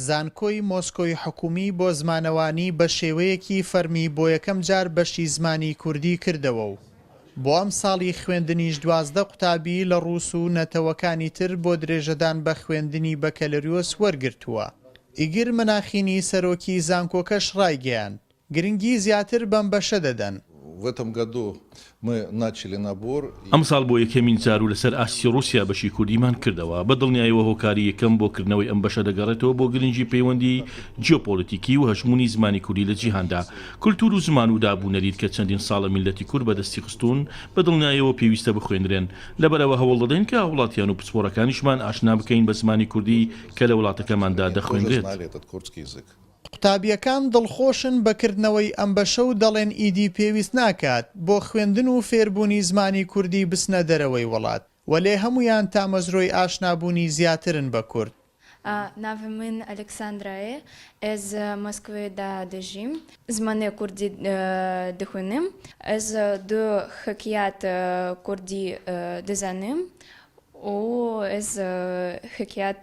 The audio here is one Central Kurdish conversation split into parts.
زانکۆی مۆسکۆی حکوومی بۆ زمانەوانی بە شێوەیەکی فەرمی بۆ یەکەم جار بەشی زمانی کوردی کردەوە و بۆ ئەمساڵی خوێندنیش دوازدە قوتابی لە ڕووس و نەتەوەکانی تر بۆ درێژەدان بە خوێندنی بەکەلریۆس وەرگرتووە. ئیگر مەناخینی سەرۆکی زانکۆکەش ڕایگەیاند، گرنگی زیاتر بەم بەشە دەدەن. و ئەتەم گادۆ مە ناچلی نابۆر ی. ئەمساڵ بۆ یەکەمین جار و لەسەر ئاستی ڕووسیا بەشی کوردیمان کردەوە، بە دڵنیایەوە هۆکاری یەکەم بۆ کردنەوەی ئەم بەشە دەگەڕێتەوە بۆ گرنگی پەیوەندی جیۆپۆلیتیکی و هەژموونی زمانی کوردی لە جیهاندا، کولتوور و زمان و داب و نەریت کە چەندین ساڵە میللەتی کورد بەدەستی خستوون، بە دڵنیایەوە پێویستە بخوێنرێن، لەبەرئەوە هەوڵدەدەین کە هاوڵاتیان و پسپۆڕەکانیشمان ئاشنا بکەین بە زمانی کوردی کە لە وڵاتەکەماندا دەخوێنرێت. قوتابیەکان دڵخۆشن بە کردنەوەی ئەم بەشە و دەڵێن ئیدی پێویست ناکات بۆ خوێندن و فێربوونی زمانی کوردی بچنە دەرەوەی وڵات، وەلێ هەموویان تامەزرۆی ئاشنابوونی زیاترن بە کورد. ناوی من ئەلکساندرایە ئێز مۆسکڤێ دا دەژیم. زمانی کوردی دخوینم. ئێز دو خکیات کوردی دزانیم و ئێز خکیات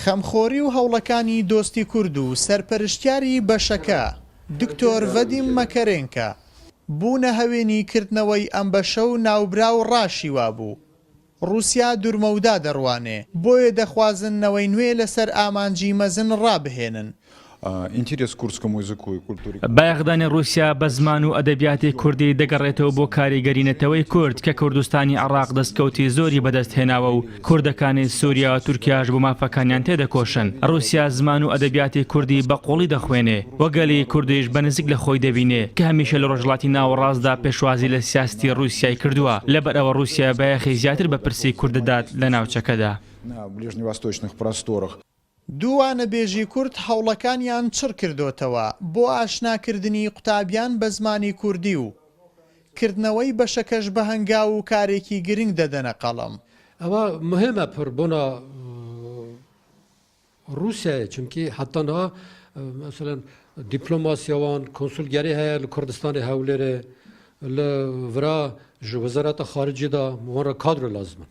خەمخۆری و هەوڵەکانی دۆستی کورد و سەرپەرشتیاری بەشەکە، دکتۆر ڤەدیم مەکەرێنکە، بوونە هەوێنی کردنەوەی ئەم بەشە و ناوبراو ڕاشی وابوو ڕووسیا دورمەودا دەڕوانێ، بۆیە دەخوازن نەوەی نوێ لەسەر ئامانجی مەزن ڕابهێنن، بایەخدانی ڕووسیا بە زمان و ئەدەبیاتی کوردی دەگەڕێتەوە بۆ کاریگەری نەتەوەی کورد کە کوردستانی عێڕاق دەستکەوتی زۆری بەدەست هێناوە و کوردەکانی سووریا و تورکیاش بۆ مافەکانیان تێدەکۆشن ڕووسیا زمان و ئەدەبیاتی کوردی بە قووڵی دەخوێنێ و گەلی کوردیش بە نزیک لە خۆی دەبینێ کە هەمیشە لە ڕۆژهەڵاتی ناوەڕاستدا پێشوازی لە سیاستی ڕووسیای کردووە لەبەر ئەوە ڕووسیا بایەخی زیاتر بە پرسی کورد دەدات لە ناوچەکەدا. دوو وانەبێژی کورد هەوڵەکانیان چڕ کردۆتەوە بۆ ئاشنا کردنی قوتابیان بە زمانی کوردی و کردنەوەی بەشەکەش بە هەنگاو و کارێکی گرنگ دەدەنە قەڵەم. ئەوە مهمە پڕ بۆنا ڕووسیایە چونکی حەتا نا مەسەلەن دیپلۆماسیەوان کۆنسول گەری هەیە لە کوردستانی هەولێرێ لە ورا ژ وەزارەتە خارجیدا وەڕە کادرۆ لازمن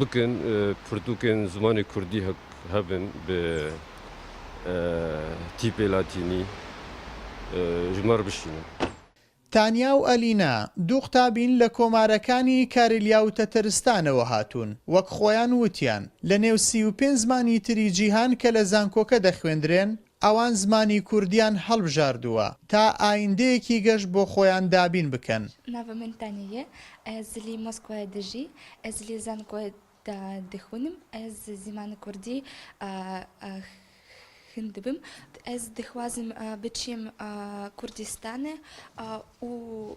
بکن پرتوکێن زمانی کوردی هە هەبن بێ ئە تیپێ لاتینی ژمار بشینن. تانیا و ئەلینا، دوو قوتابین لە کۆمارەکانی کارلیا و تەتەرستانەوە هاتوون. وەک خۆیان وتیان، لە نێو سی و پێنج زمانی تری جیهان کە لە زانکۆکە دەخوێندرێن، ئەوان زمانی کوردییان هەڵبژاردووە تا ئایندەیەکی گەش بۆ خۆیان دابین بکەن. ناڤە من تانە یە ئەز لی مۆسکوایە دژی ئەز لی زانکۆە دا دخونم ئەز زمان کوردی خندبم ئەز دخوازم بچیم کوردستانە ئوو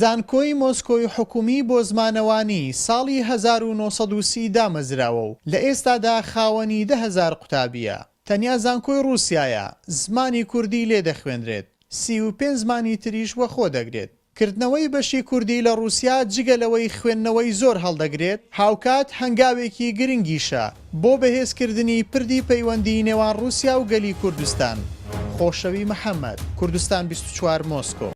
زانکۆی مۆسکۆی حکومی بۆ زمانەوانی ساڵی هەزار و نۆ سەد و سی دامەزراوە و لە ئێستادا خاوەنی دە هەزار قوتابییە. تەنیا زانکۆی ڕووسیایە زمانی کوردی لێ دەخوێنرێت، سی و پێنج زمانی تریش وەخۆ دەگرێت. کردنەوەی بەشی کوردی لە ڕووسیا جگە لەوەی خوێندنەوەی زۆر هەڵدەگرێت، هاوکات هەنگاوێکی گرنگیشە بۆ بەهێزکردنی پردی پەیوەندی نێوان ڕووسیا و گەلی کوردستان. خۆشەوی محەمەد، کوردستان بیست و چوار، مۆسکۆ.